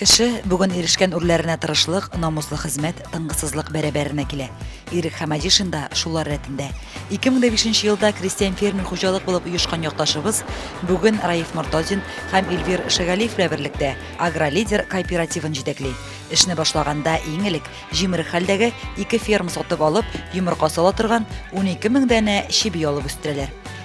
Кеше бүген ирешкән үрләренә тырышлык, намуслы хезмәт, тынгысызлык бәрабәренә килә. Ирек Хамадишин да шулар рәтендә. 2005 елда крестьян фермер хуҗалык булып оешкан якташыбыз бүген Раиф Мортозин һәм Эльвир Шагалиев белән берлектә Агролидер кооперативын җитәкли. Эшне башлаганда иң элек җимерек хәлдәге ике ферма сатып алып, йомырка сала торган 12 мең данә чеби алып үстерәләр.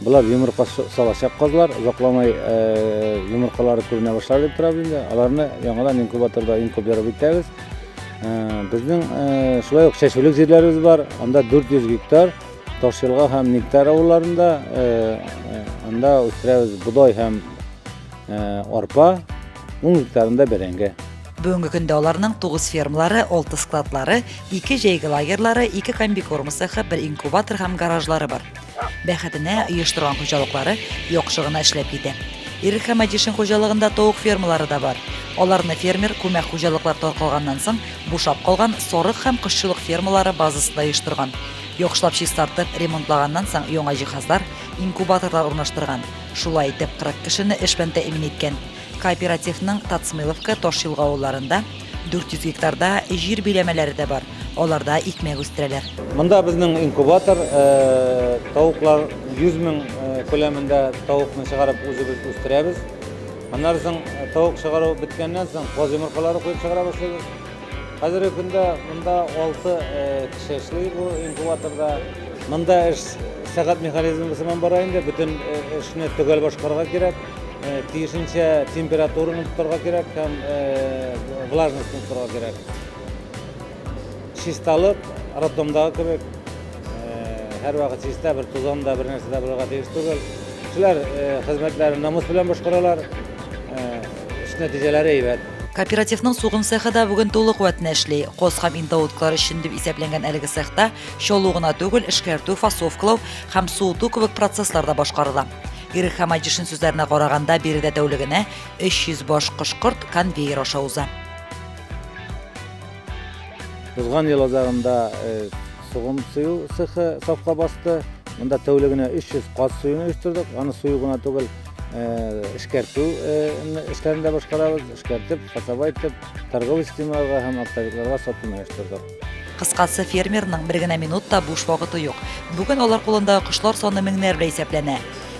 Болар йомырка салачак казлар, озакламай йомыркалары күренә башлар дип торабыз инде. Аларны яңадан инкубаторда инкубировать итәбез. Безнең шулай ук чәчүлек җирләребез бар. Анда 400 гектар Ташелга һәм Никтар авылларында анда үстерәбез бодай һәм арпа, 10 гектарында бәрәңге. Бүгенге көндә аларның 9 фермалары, 6 складлары, 2 җәйге лагерьлары, 2 комбикорм цехы, 1 инкубатор һәм гаражлары бар. Бәхетенә, оештырган хуҗалыклары яхшы гына эшләп китә. Ирек Хәмәдишин хуҗалыгында тавык фермалары да бар. Аларны фермер күмәк хуҗалыклар таркалганнан соң бушап калган сарык һәм кошчылык фермалары базасында оештырган. Яхшылап чистартып, ремонтлаганнан соң яңа җиһазлар, инкубаторлар урнаштырган. Шулай итеп, 40 кешене эш белән тәэмин иткән. Кооперативның Тацмиловка, Ташъелга авылларында 400 гектарда җир биләмәләре дә бар, аларда икмәк үстерәләр. Монда безнең инкубатор, тавыклар 100 мең күләмендә тавыкны чыгарып үзебез үстерәбез. Аннары соң тавык чыгару беткәннән соң каз йомыркалары куеп чыгара башлыйбыз. Хәзерге көндә монда 6 кеше эшли бу инкубаторда. Монда эш сәгать механизмы сыман бара инде, бөтен эшне төгәл башкарырга кирәк. тиешенчә температураны тотарга кирәк һәм влажностьны тотарга кирәк чисталык роддомдагы кебек һәрвакыт чиста бер тузан да бер нәрсә дә булырга тиеш түгел кешеләр хезмәтләрен намус белән башкаралар эш нәтиҗәләре әйбәт Кооперативның сугым цехы да бүген тулы куәтенә эшли. Кос һәм индаутклар өчен дип исәпләнгән әлеге цехта чалу гына түгел, эшкәртү, фасовкалау һәм суыту кебек процесслар да башкарыла. Ирек Хамаҗишин сүзләренә караганда, биредә тәүлегенә 300 баш кош-корт конвейер аша уза. Узган ел азагында сугым сыю цехы сафка басты. Монда тәүлегенә 300 каз суюын оештырдык. Аны сою гына түгел, эшкәртү эшләрен дә башкарабыз. Эшкәртеп, фасовать итеп, торговый системаларга һәм оптовикларга сатуны оештырдык. Кыскасы, фермерның бер генә минут та буш вакыты юк. Бүген алар кулында кошлар саны меңнәр белән исәпләнә.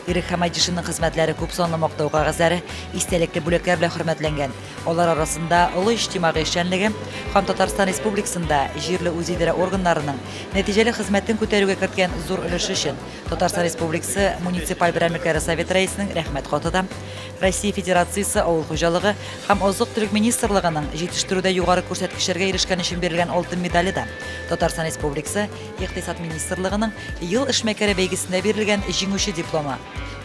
Ирек Хамайдишинның хезмәтләре күп санлы мактау кәгазьләре, истәлекле бүләкләр белән хөрмәтләнгән. Алар арасында олы иҗтимагый эшчәнлеге һәм Татарстан Республикасында җирле үзидарә органнарының нәтиҗәле хезмәтен күтәрүгә керткән зур өлеше өчен Татарстан Республикасы муниципаль берәмлекләре Советы рәисенең рәхмәт хаты да Россия Федерациясе Авыл хуҗалыгы һәм азык-төлек министрлыгының җитештерүдә югары күрсәткечләргә ирешкән өчен бирелгән алтын медале да, Татарстан Республикасы Икътисад министрлыгының Ел эшмәкәре бәйгесендә бирелгән Җиңүче дипломы,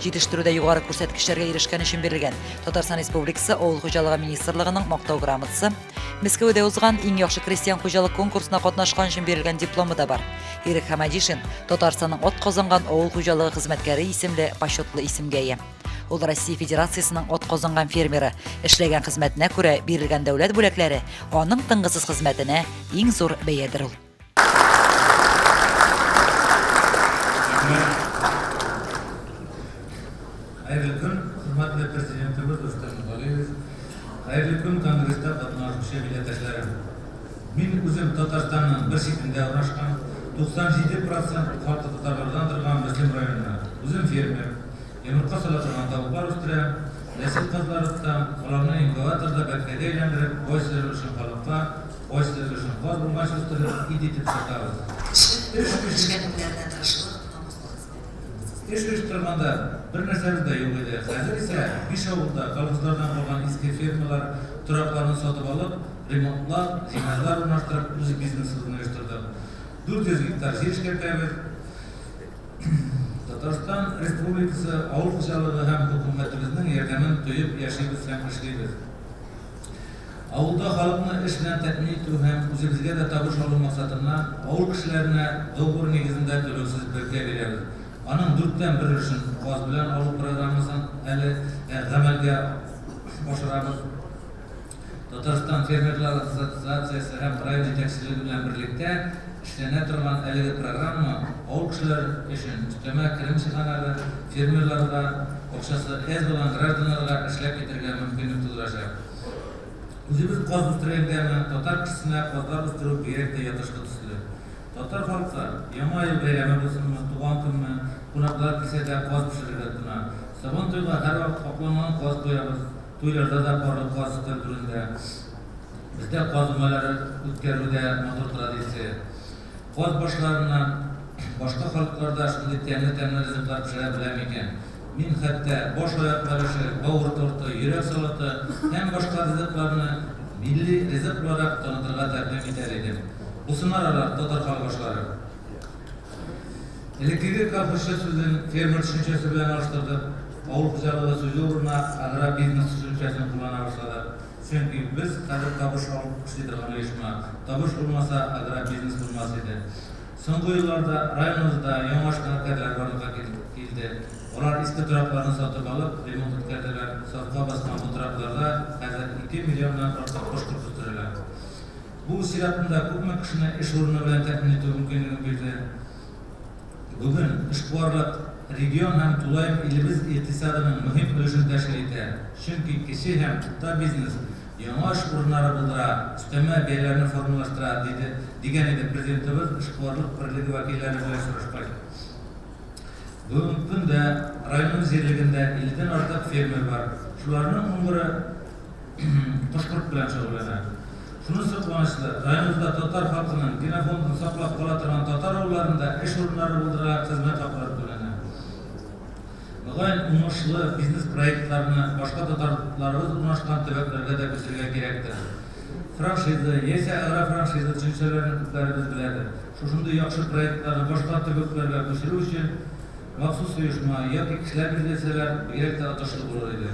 җитештерүдә югары күрсәткечләргә ирешкән өчен бирелгән Татарстан Республикасы Авыл хуҗалыгы министрлыгының Мактау грамотасы, Мәскәүдә узган Иң яхшы крестьян-хуҗалык конкурсына катнашкан өчен бирелгән дипломы да бар. Ирек Хәмәдишин, Татарстанның атказанган авыл хуҗалыгы хезмәткәре исемле почетлы исемгә ия. Ул Россия Федерациясенең атказанган фермеры. Эшләгән хезмәтенә күрә бирелгән дәүләт бүләкләре аның тынгысыз хезмәтенә иң зур бәядер ул. Хәерле көн, хөрмәтле президентыбыз Рөстәм Миңгалиев. Хәерле көн, конгресста катнашучы милләттәшләрем. Мин үзем Татарстанның бер читендә урнашкан, 97 процент каты татарлардан торган Мөслим районыннан. Үзем фермер. Йомырка сала торган тавыклар үстерә, нәсел кызларытта, аларны инкубаторда бәбкәгә әйләндереп, кайсы өлешен халыкка, кайсы өлешен каз булгач үстереп, ит итеп сатабыз. Эш эшли Эш эш торганда бер нәрсәбез дә юк иде. Хәзер исә биш авылда колхозлардан калган иске фермалар торакларын сатып алып, ремонтлап, җиһазлар урнаштырып, үз бизнесыбызны оештырдык. 400 гектар җир эшкәртәбез. Татарстан Республикасы авыл хуҗалыгы һәм хөкүмәтебезнең ярдәмен тоеп яшибез һәм эшлибез. Авылда халыкны эш белән тәэмин итү һәм үзебезгә дә табыш алу максатыннан авыл кешеләренә договор нигезендә түләүсез бәкә бирәбез. Аның дүрттән бер өлешен газ белән алу программасын әле гамәлгә ашырабыз. Татарстан фермерлар ассоциациясе һәм район җитәкчелеге белән берлектә эшләнә торган әлеге программа авыл кешеләре өчен өстәмә керем чыганагы, фермерларга акчасы әз булган гражданнарга эшләп китәргә мөмкинлек тудырачак. Үзебез каз үстергәнгәме, татар кешесенә казлар үстерү бигрәк тә ятышлы төсле. Татар халкы, Яңа ел бәйрәме булсынмы, туган көнме, кунаклар килсә дә каз пешерергә тотына. Сабантуйга һәрвакыт капланган каз куябыз. Туйларда да барлыкка азыктан бүленелә. Бездә каз өмәләр үткәрү дә матур традиция. Каз башларыннан башка халыклар да шундый тәмле-тәмле ризыклар пешерә белә микән? Мин хәтта баш аяк бәлеше, бавыр торты, йөрәк салаты һәм башка ризыкларны милли ризык буларак танытырга тәкъдим итәр идем. Бусынар алар, татар халык ашлары! Элеккеге кафешы сүзен фермер төшенчәсе белән алыштырдык, авыл хуҗалыгы сүзе урынына агробизнес төшенчәсен куллана башладык, чөнки без хәзер табыш алып эшли торган оешма, табыш булмаса, агробизнес булмас иде. Соңгы елларда районыбызда яңа школоткәләр барлыкка килде. Алар иске торакларны сатып алып, ремонт үткәрделәр, сафка баскан бу торакларда хәзер ике миллионнан артык кош-корт үстерелә. Бу чиратында күпме кешене эш урыны белән тәэмин итү мөмкинлеге бирде. Бүген эшкуарлык регион һәм тулаем илебез икътисадының мөһим өлешен тәшкил итә, чөнки кече һәм урта бизнес яңа эш урыннары булдыра, өстәмә бәяләрне формалаштыра, диде дигән иде Президентыбыз эшкуарлык берлеге вәкилләре белән очрашкач. Бүгенге көндә районыбыз җирлегендә 50 дән артык фермер бар. Шуларның унберы, кош-корт белән шөгыльләнә. Шунысы куанычлы, районыбызда татар халкының генофондын саклап кала торган татар авылларында эш урыннары булдыра, хезмәт хаклары түләнә. Мөгаен, уңышлы бизнес-проектларны башка татарларыбыз урнашкан төбәкләргә дә күчерергә кирәктер. Франшиза яисә агрофраншиза төшенчәләрен күпләребез беләдер. Шушындый яхшы проектларны башка төбәкләргә күчерү өчен махсус оешма яки кешеләр билгеләсәләр, бигрәк тә отышлы булыр иде.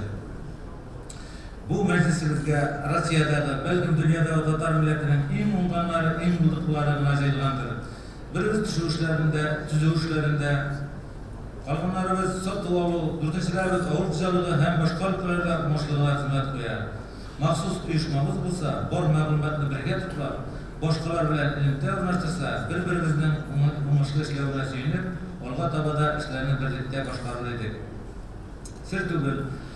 Бу мәҗлесебезгә Россиядәге, бәлкем, дөньядагы татар милләтенең иң уңганнары, иң булдыклылары гына җыелгандыр. Беребез төшү эшләрендә, төзү эшләрендә, калганнарыбыз сату алу, дүртенчеләребез авыл хуҗалыгы һәм башка өлкәләрдә уңышлы гына хезмәт куя. Махсус оешмабыз булса, бар мәгълүматны бергә туплап, башкалар белән элемтә урнаштырса, бер-беребезнең уңышлы эшләвенә сөенеп, алга таба да эшләрне берлектә башкарыр идек. Сер түгел.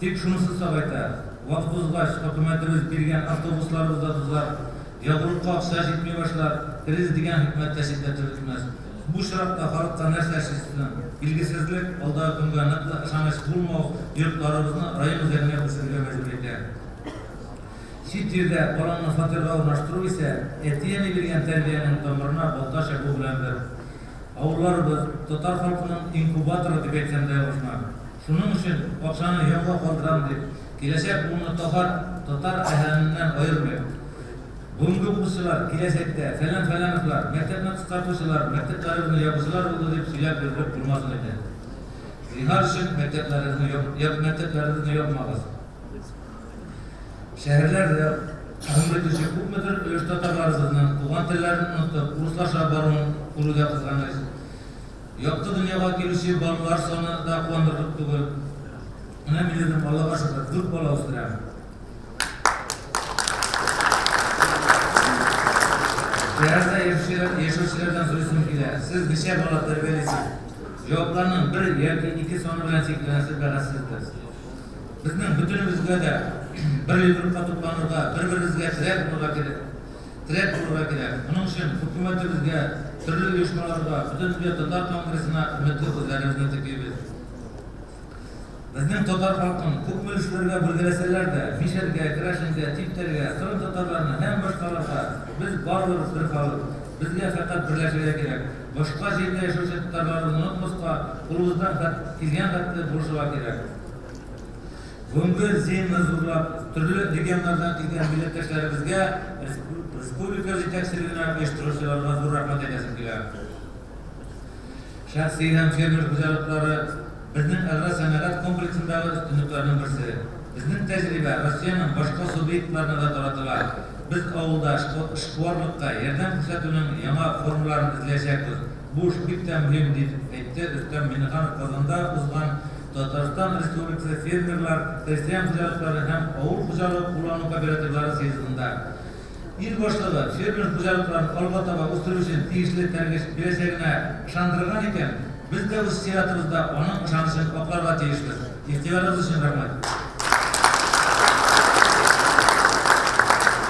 Тик шунысы сагайта, вакыт узгач, хөкүмәтебез биргән автобусларыбыз да тузар, ягулыкка акча җитми башлар, кризис дигән хөкүмәт тә читтә төретмәс. Бу очракта халыкка нәрсә эшлисе соң? Билгесезлек, алдагы көнгә ныклы ышаныч булмау йортларыбызны район үзәгенә күчерергә мәҗбүр итә. Чит җирдә балаңны фатирга урнаштыру исә әти-әни биргән тәрбиянең тамырына балта чабу белән бер. Авылларыбыз, татар халкының инкубаторы дип әйтсәм дә ялгышмас. Шуның өчен патшаны җавга калдырам дип, киләчәк буынны татар татар әһәленнән аермыйм. Бүгенге укучылар, киләчәктә, фәлән-фәләновлар, мәктәпне кыскартучылар, мәктәпләребезне ябучылар булды дип сөйләп йөрдереп булмасын иде. Зинһар өчен, мәктәпләрегезне яп яп мәктәпләребезне япмагыз. Шәһәрләр дә гомер итүче күпмедер өлеш татарларыбызның туган телләрен онытып, урыслаша баруын күрү дә кызганыч. Якты дөньяга килүче балалар саны да куандырырлык түгел. Менә мин үзем, Аллага шөкер, дүрт бала үстерәм. Тәрәздә яшәүчеләрдән сорыйсым килә. Сез ничә бала тәрбиялисез? Җавапларның бер яки ике саны белән чикләнәсез бәхәссездер. Безнең бөтенебезгә дә бер йодрыкка тупланырга, бер-беребезгә терәк булырга кирәк. Теләк булырга кирәк. Моның өчен хөкүмәтебезгә, төрле оешмаларга, Бөтендөнья татар конгрессына өметле күзләребезне текибез. Безнең татар халкын күпме өлешләргә бүлгәләсәләр дә, мишәргә, керәшенгә, типтәргә, кырым татарларына һәм башкаларга, без барыбыз бер халык. Безгә фәкать берләшергә кирәк. Башка җирдә яшәүче татарларыбызны онытмаска, кулыбыздан килгән хәтле булышырга кирәк. Гомбер земле зурлап, төрле регионнардан килгән милләттәшләребезгә, республика җитәкчелегенә, оештыручыларга зур рәхмәт әйтәсем килә. Шәхси һәм фермер хуҗалыклары безнең агросәнәгать комплексындагы өстенлекләрнең берсе. Безнең тәҗрибә Россиянең башка субъектларына да таратыла. Без авылда эшкуарлыкка ярдәм күрсәтүнең яңа формаларын эзләячәкбез. Бу эш бик тә мөһим, дип әйтте Рөстәм Миңнеханов Казанда узган Татарстан Республикасы фермерлар, крестьян хуҗалыклары һәм авыл хуҗалыгы куллану кооперативлары съездында ил башлыгы фермер хуҗалыкларын алга таба үстерү өчен тиешле этәргеч бирәчәгенә ышандырган икән, без дә үз чиратыбызда аның ышанычын акларга тиешбез. Игътибарыгыз өчен рәхмәт.